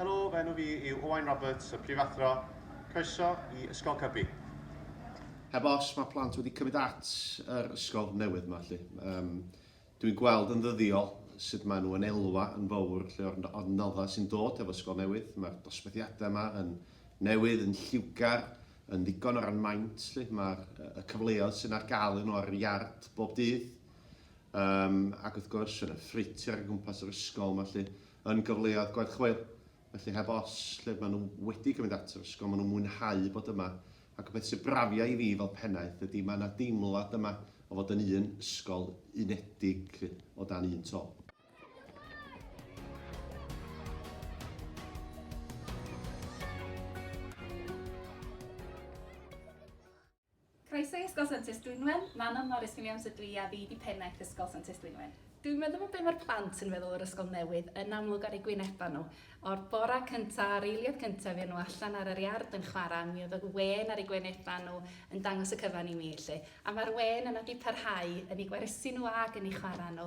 Helo, fy enw fi yw Owain Roberts, y Prifathro. Croeso i Ysgol Cybi. Heb os, mae plant wedi cymryd at yr ysgol newydd yma 'lly. Yym, dwi'n gweld yn ddyddiol sut maen nhw yn elwa yn fawr 'lly o'r o'r noddau sy'n dod hefo ysgol newydd. Mae'r dosbarthiadau yma yn newydd, yn lliwgar, yn ddigon o ran maint 'lly. Mae'r y cyfleoedd sy'n ar gael iddyn nhw ar yr iard bob dydd. Yym, ac wrth gwrs, yn y ffreutur o gwmpas yr ysgol yma 'lly. yn gyfleoedd gweld chwaer. Felly heb os, lle maen nhw wedi cael mynd at yr ysgol, maen nhw'n mwynhau bod yma. Ac y peth sy'n brafiai i fi fel pennaeth ydy mae yna deimlad yma o fod yn un ysgol unedig 'lly, o dan un to. Croeso i Ysgol Santes Dwynwen, Manon Morris fi Miams ydw i a fi di pennaeth Ysgol Santes Dwynwen. Dwi'n meddwl bod be mae'r plant yn feddwl o'r ysgol newydd yn amlwg ar eu gwynebau nhw. O'r bora cynta, a'r eiliad cynta i fuon nhw allan ar yr iard yn chwarae, mi oedd y wên ar eu gwynebau nhw yn dangos y cyfan i mi 'lly. A mae'r wên yna 'di parhau yn eu gwersi nhw ag yn eu chwarae nhw.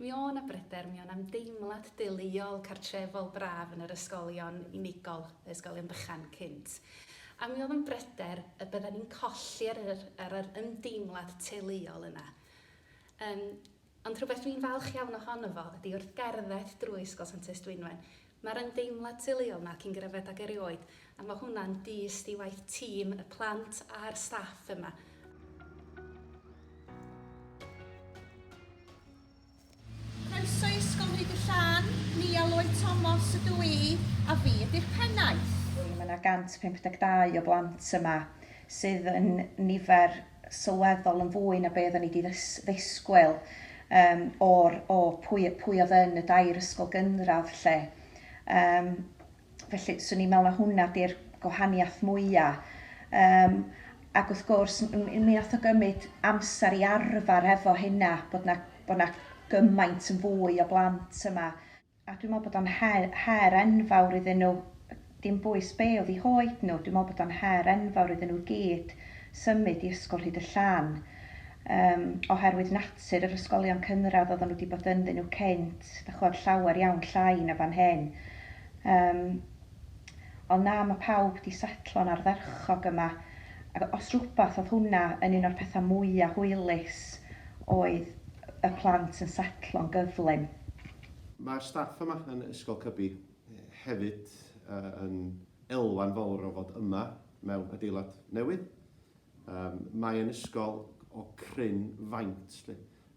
Mi o' 'na bryder, mi o' 'na ymdeimlad deuluol, cartrefol braf yn yr ysgolion unigol, y ysgolion bychan cynt. A mi o'dd o'n bryder y byddan ni'n colli yr yr yr yr ymdeimlad teuluol yna. Yym ond rhywbeth dwi'n falch iawn ohono fo ydi wrth gerdded drwy Ysgol Santes Dwynwen, Mae'r ymdeimlad teuluol 'na cyn gyrraedd ag erioed, a mae hwnna'n dyst i waith tîm, y plant a'r staff yma. Croeso i Ysgol Rhyd y Llan, Nia Lloyd Thomas ydw i, a fi ydy'r pennaeth. Mae 'na 152 o blant yma, sydd yn nifer sylweddol yn fwy na be' oddan ni 'di ddys- ddisgwyl yym o'r o pwy yy pwy odd yn y dair ysgol gynradd 'lly. Yym felly 'swn i'n me'wl na hwnna 'di'r gwahaniath mwya'. Yym ac wrth gwrs m- m- mi nath o gymyd amser i arfar hefo hynna bod 'na bo' 'na gymaint yn fwy o blant yma. A dwi'n meddwl bod o'n her, her enfawr iddyn nhw, dim bwys be oedd eu hoed nhw, dwi'n meddwl bod o'n her enfawr iddyn nhw i gyd symud i Ysgol Rhydyllân, yym, oherwydd natur yr ysgolion cynradd oedden nhw 'di bod ynddyn nhw cynt, dach ch'mod, llawer iawn llai na fan hyn. Yym, ond na, ma' pawb 'di setlo'n ardderchog yma, ac os rywbeth oedd hwnna yn un o'r pethau mwya' hwylus oedd y plant yn setlo'n gyflym. Mae'r staff yma yn Ysgol Cybi hefyd yn elwa'n fawr o fod yma mewn adeilad newydd. Mae yn ysgol o cryn faint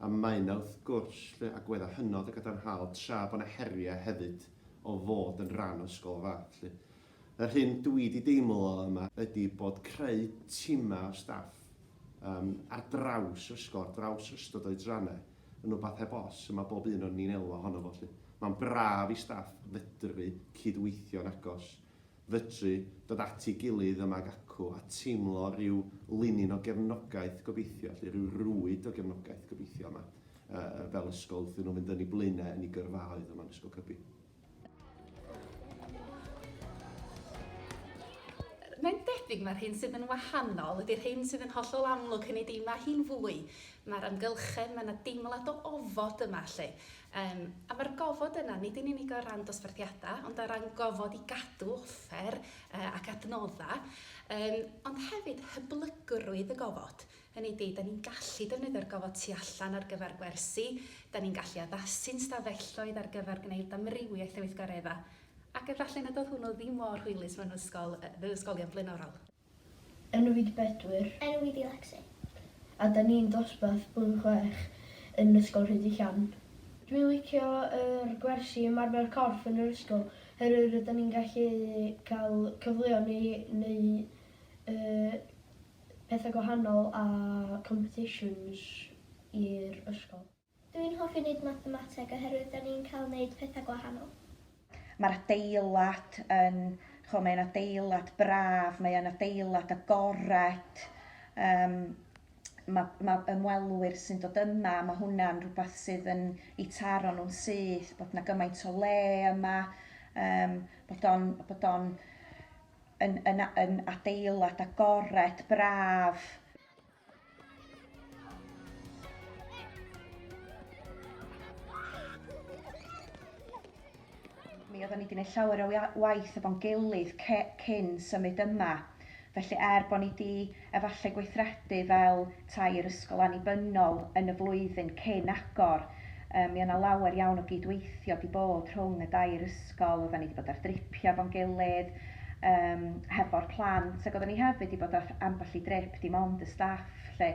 a mae yna wrth gwrs agweddau hynod o gadarnhaol tra bod yna heriau hefyd o fod yn rhan o ysgol o'r fath. Yr hyn dwi wedi deimlo yma ydi bod creu timau o staff ar draws yr ysgol, ar draws yr ystod oedrannau, yn wbath heb os, y mae bob un o'n ni'n elwa ohono fo 'lly. Mae'n braf i staff fedru cyd-weithio'n agos, fedru dod at ei gilydd yma ag acw a teimlo rhyw linyn o gefnogaeth gobeithio 'lly, rhyw rwyd o gefnogaeth gobeithio yma fel ysgol wrthyn nhw fynd yn eu blaenau yn eu gyrfaoedd yma yn Ysgol Cybi. Mae'n debyg mae'r hyn sydd yn wahanol ydy'r hyn sydd yn hollol amlwg, hynny ydi mae hi'n fwy, mae'r amgylchedd, mae yna deimlad o ofod yma lle. Um, a mae'r gofod yna, nid yn unig o ran dosbarthiadau, ond o ran gofod i gadw offer uh, ac adnoddau, um, ond hefyd hyblygrwydd y gofod. Hynny ydi, 'da ni'n gallu defnyddio'r gofod tu allan ar gyfer gwersi, 'da ni'n gallu addasu'n stafelloedd ar gyfer gwneud amrywiaeth o weithgareddau, ac efallai nad oedd hwnnw ddim mor hwylus mewn ysgol, fy ysgolion blaenorol. Enwyd Bedwyr. Enwyd i Lecsi. A 'da ni'n dosbarth blwyddyn chwech yn Ysgol Rhydychen. Dwi'n licio yr gwersi ymarfer corff yn yr ysgol, oherwydd rydan ni'n gallu cael cyfleon i neu y pethau gwahanol a competitions i'r ysgol. Dw i'n hoffi neud mathemateg oherwydd da ni'n cael neud pethau gwahanol. Mae'r adeilad yn, chimod, mae'n adeilad braf, mae'n adeilad agored, yym mae mae ymwelwyr sy'n dod yma, mae hwnna'n rhywbeth sydd yn eu taro nhw'n syth, bod 'na gymaint o le yma, yym bod o'n bod o'n yn, yn, yn adeilad agored, braf. Mi oeddwn i wedi gwneud llawer o waith efo'n gilydd cyn symud yma. Felly er bod ni wedi efallai gweithredu fel tair ysgol annibynnol yn y flwyddyn cyn agor, yy mi o' 'na lawer iawn o gyd-weithio 'di bod rhwng y dair ysgol, oddan ni 'di bod ar dripia efo'n gilydd yym hefo'r plant ag oddan ni hefyd 'di bod ar ambell i drip dim ond y staff 'lly,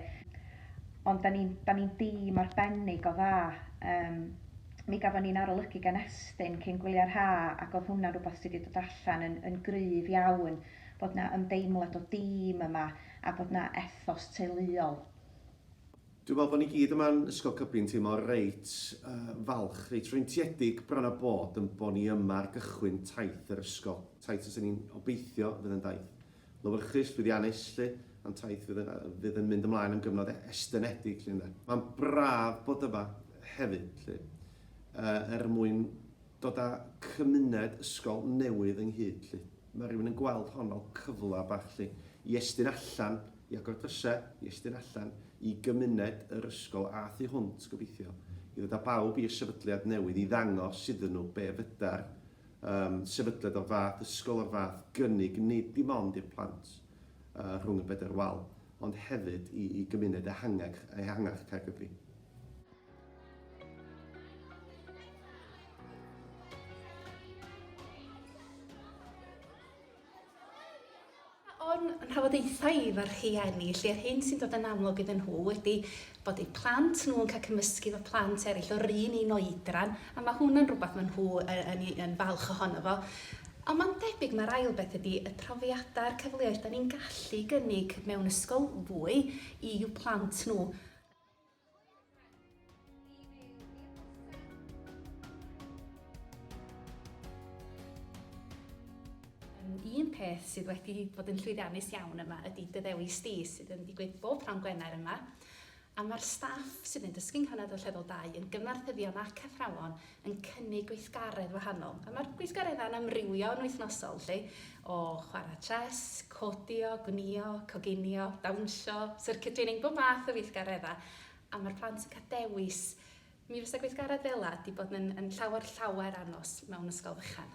ond 'dan ni'n 'dan ni'n dîm arbennig o dda, yym mi gafon ni'n arolygu gan Estyn cyn gwylia'r ha' ac o'dd hwnna'n rwbath sy' 'di dod allan yn yn gryf iawn. bod 'na ymdeimlad o dîm yma a bod 'na ethos teuluol. Dwi'n meddwl bod ni gyd yma'n Ysgol Cybi'n teimlo reit falch, reit freintiedig bron a bod yn bod ni yma ar gychwyn taith yr ysgol. Taith fysen ni'n obeithio fydd yn daith lywyrchus, llwyddiannus 'lly, ond taith fydd yn fydd yn mynd ymlaen am gyfnod estynedig 'lly ynde. Mae'n braf bod yma hefyd 'lly er mwyn dod â chymuned ysgol newydd ynghyd 'lly. Ma' rywun yn gweld hon fel cyfle bach 'lly i estyn allan, i agor dryse, i estyn allan i gymuned yr ysgol a thu hwnt gobeithio, i ddod â bawb i'r sefydliad newydd i ddangos iddyn nhw be' fydar yym sefydliad o'r fath, ysgol o'r fath gynnig nid dim ond i'r plant yy rhwng y bedair wal ond hefyd i i gymuned ehangach ehangach Caergybi. o'n rhafodaethau i fy rhieni, lle yr hyn sy'n dod yn amlwg iddyn nhw ydy bod eu plant nhw'n cael cymysgu efo plant eraill o'r un un oedran, a mae hwnna'n rhywbeth maen nhw yn, yn falch ohono fo. Ond mae'n debyg mae'r ail beth ydy y profiadau a'r cyfleoedd da ni'n gallu gynnig mewn ysgol fwy i'w plant nhw. Un peth sydd wedi bod yn llwyddiannus iawn yma ydy dy ddewis di, sydd yn digwydd bob pnawn Gwener yma, a mae'r staff sydd yn dysgu'n Nghanad Ollweddol 2 yn gyfarthyddion ac athrawon yn cynnig gweithgaredd wahanol. A mae'r gweithgareddau'n amrywio yn wythnosol, lle, o chwarae chess, codio, gwnïo, coginio, dawnsio, circuiting, neu bob math o weithgareddau. A mae'r plant yn cael dewis. Mi fysa gweithgaredd fel yna wedi bod yn, yn llawer, llawer anos mewn ysgol fychan.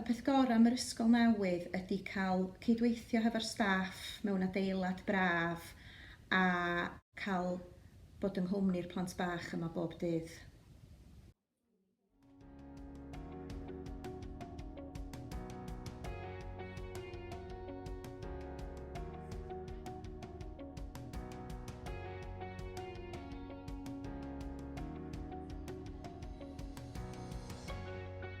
Y peth gorau am yr ysgol newydd ydy cael cydweithio hefo'r staff mewn adeilad braf a cael bod yng nghwmni'r plant bach yma bob dydd.